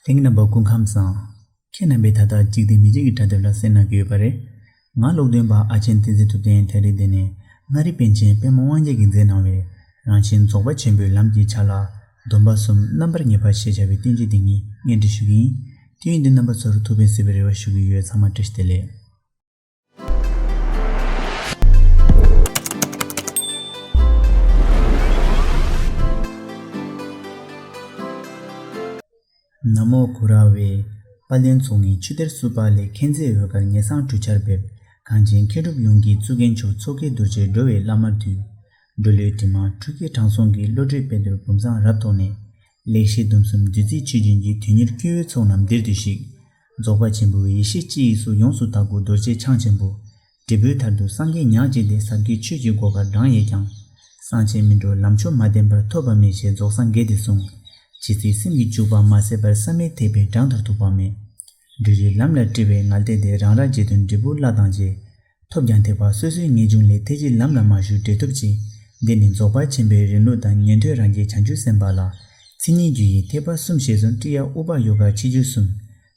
དེང་རྣམ་པ་སྐུ་ཁམས་བཟང། ཁྱེད་རྣམ་པས་ད་ལྟ་འཇིག་རྟེན་མི་རྗེ་གི་དྲ་དེབ་ལ་གསན་གནང་གི་ཡོད་པ་རེད། ང་ཀློག་འདོན་པ་ཨ་ཆེན་བསྟན་འཛིན་ཐུབ་བསྟན་དྷེ་རི་སྡེ་ནས་མངའ་རིས་པན་ཆེན་དཔལ་མོ་དབང་རྒྱལ་གྱིས་མཛད་གནང་བའི་རང་བཞིན་རྫོགས་པ་ཆེན་པོའི་ལམ་གྱི་ཆ་ལག་སྡོམ་པ་གསུམ་རྣམ་པར་ངེས་པ་ཞེས་བྱ་བའི་བསྟན་བཅོས་འདི་ཉིད་བརྙན་འཕྲིན་ཞུ་གི་ཡིན། དུས་ཡུན་འདི་རྣམ་པ་ཚོར་ཐུགས་ཕན་སེལ་བའི་རེ་བ་ཞུ་གི་ཡོད་ཚང་མ་བཀྲ་ཤིས་བདེ་ལེགས། ན་མོ་གུ་ར་བས། པ་ལན་ཚོགས་ངས་ཆུ་གཏེར་བསུ་བ་ལས་མཁྱེན་བརྩེའི་འོད་དཀར་ངེས་གསང་གྲུ་ཆར་འབེབས། གངས་ཅན་མཁས་གྲུབ་ཡོངས་ཀྱི་གཙུག་རྒྱན་མཆོག་མཚོ་སྐྱེས་རྡོ་རྗེ་འགྲོ་བའི་བླ་མར་འདུད། འགྲོ་བློའི་དྲི་མ་འཁྲུད་མཁས་དྲང་སྲོང་གི་བློ་གྲོས་དཔལ་དུར་བུམ་བཟང་རབ་ཐོགས་ནས། ལེགས་བཤད་སྡོམ་གསུམ་བདུད་རྩིའི་ཆུ་རྒྱུན་གྱིས་དུས་ཉེར་སྐྱེ་བོའི་ཚོགས་རྣམས་འདིར་འདུས་ཤིག། རྫོགས་པ་ཆེན་པོའི་ཡེ་ཤེས་སྤྱི་ཡིས་སུ་ཡོངས་སུ་དག་གོ་རྡོ་རྗེ་འཆང་ཆེན་པོ། འབྲས་བུའི་མཐར་དུ་སངས་རྒྱས་ཉག་གཅིག་ལས་ཟབ་གྱི་ཆོས་ཀྱི་སྒོ་ཁར་འབྲང་ཡས་ཀྱང། སངས་ཆེན་མི་འགྲོ་ལམ་ཆོས་མ་བསྟན་པར་ཐོབ་པ་མེད་ཞེས་རྫོགས་སངས་རྒྱས་དེ་གསུངས། ཇི་སྲིད་སེམས་ཀྱི་འཇུག་པ་མ་ཟད་པར་བསམ་མི་ཐེག་པའི་སྦྲང་དང་ཐུག་པ་མེད། སྦྲུལ་རིགས་ལམ་ལ་དཀྲི་བའི་ངར་ལྟས་དེ་རང་ར་བརྗེད་དུ་འབྲས་བུ་བླ་དང་རྗེས། ཐོབ་ཀྱང་ཐེག་པ་སོ་སོའི་ངེས་འབྱུང་ལས་ཐེག་གི་ལམ་ལ་མ་ཞུགས་འབྲས་ཐོབ་ཅིང། འདི་ནི་རྫོགས་པར་ཕྱིན་པའི་རིང་ལུགས་དང་ཉན་ཐོས་རང་རྒྱལ་བྱང་ཆུབ་སེམས་དཔའ་ལ། ཚིག་སྙན་རྒྱུད་ཡིག་ཐེག་པ་གསུམ་ཞེས་སོགས་ཀྲི་ཡ་ཨུ་པ་ཡོ་ག་ཕྱི་རྒྱུད་གསུམ།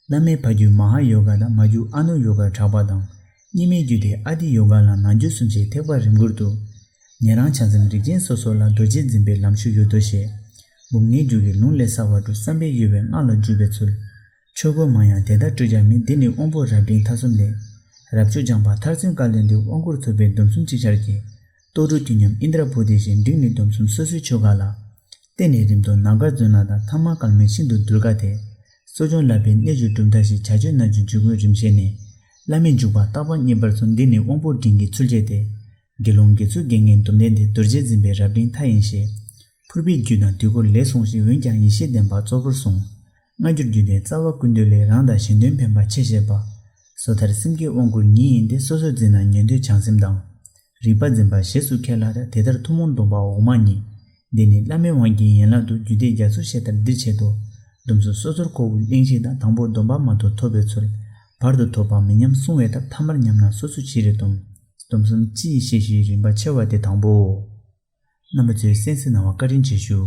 བླ་མའི་ཕ་རྒྱུད་མ་ཧཱ་ཡོ་ག་དང་མ་རྒྱུད་ཨ་ནུ་ཡོ་གར་གྲགས་པ་དང། གཉིས་མེད་རྒྱུད་དེ་ཨ་ཏི་ཡོ་ག་ལ་ནང་རྒྱུད་གསུམ་ཞེས་ཐེག་པ་རིམ་དགུར་འདུ། ཉན་རང་བྱང་སེམས་རིགས་ཅན་སོ་སོ་ལ་རྡོ་རྗེ་འཛིན་པའི་ལམ་ཞུགས་ཡོད་དོ་ཞེས། སྦུབས་ལྔའི་རྒྱུད་ཀྱི་ལུང་ལས་གསར་བ་དྲུག་བསམ་པའི་གཡོ་བའི་སྔགས་ལ་འཇུག་པའི་ཚུལ། ཆོས་སྐོར་མང་ཡང་དེ་ལྟར་སྤྲོས་ཀྱང་མི་འདི་ནི་དབང་པོ་རབ་འབྲིང་མཐའ་གསུམ་ལས། རབ་བཅོལ་སྦྱངས་པ་མཐར་མཚོན་བཀའ་ལས་འདིར་དབང་བསྐུར་ཐུབ་པའི་སྡོམ་གསུམ་ཅིག་ཆར་གྱིས། རྟོགས་གྲོལ་དུས་མཉམ་ཨིནྡྲ་བྷུ་ཏི་བཞིན་འགྲིགས་ནི་སྡོམ་གསུམ་སོ་སོའི་ཆོ་ག་ལ། བརྟེན་ནས་རིམ་དུ་ནམ་མཁར་མཛོད་ནང་དང་ཐང་མ་ཀརྨ་ནི་ཤིན་ཏུ་གདུལ་དཀའ་སྟེ། གསོ་སྦྱོང་བསླབ་པའི་གནས་བཅུ་གྲུབ་མཐའ་ཞེས་བྱ་ཆོས་རྣམས་ཀྱི་འཇུག་སྒོའི་རིམ་བཤད་ནི། བླ་མེད་འཇུག་པ་རྟག་པར་བསྙེན་པར་མཚོན་འདི་ནི་དབང་པོ་འབྲིང་གི་ཚུལ་བྱས་ཏེ། དགེ་སློང་དགེ་ཚུལ་དགེ་བསྙེན་སྡོམ་ལྡན་འདི་རྡོ་རྗེ་འཛིན་པའི་རབ་འབྲིང་མཐའ་ཡིན་ཞེས། ཕུར་པའི་རྒྱུད་དང་དུས་འཁོར་ལས་གསུངས་ཤིང་འོན་ཀྱང་ཡེ་ཤེས་ལྡན་པ་གཙོ་བོར་གསུངས། སྔ་འགྱུར་བརྒྱུད་ལྡན་རྩ་བ་ཀུན་འདུས་ལས་རང་དང་གཞན་དོན་ཕན་པ་ཆེ་བཞེད་པ། སོ་ཐར་སེམས་བསྐྱེད་དབང་བསྐུར་ཉིད་ཡིན་ཏེ་སོ་སོར་འཛིན་ན་ཉན་ཐོས་བྱང་སེམས་དང། རིག་པ་འཛིན་པ་ཞེས་སུ་ཁས་ལ་དེ་ལྟར་ཐུན་མོང་སྡོམ་པ་འོག་མ་གཉིས། འདི་ནི་བླ་མའི་དབང་གི་ཡན་ལག་ཏུ་རྒྱུད་སྡེ་རྒྱ་མཚོ་ཞེས་ལྟར་འདིར་འཆད་དོ། སྡོམ་གཟུགས་སོ་སོར་ཁོ་བོའི་གླེང་གཞི་དང་དང་པོ་སྡོམ་པ་མ་ཐོབ་ཐོབ་པའི་ཚུལ། བར་དུ་ཐོབ་པ་མི་ཉམས་བསྲུང་བའི་ཐབས་ཐ་མར་ཉམས་ན་སོ་སོ་ཅི་རིགས་སྡོམ། སྡོམ་གསུམ་སྤྱི་ཡི་བཤད་གཞིའི་རིམ་པ་ཕྱེ་བ་དེ་དང་པོའོ། རྣམ་པ་ཚོའི་གསན་གཟིགས་གནང་བ་བཀའ་དྲིན་ཆེ་ཞུ།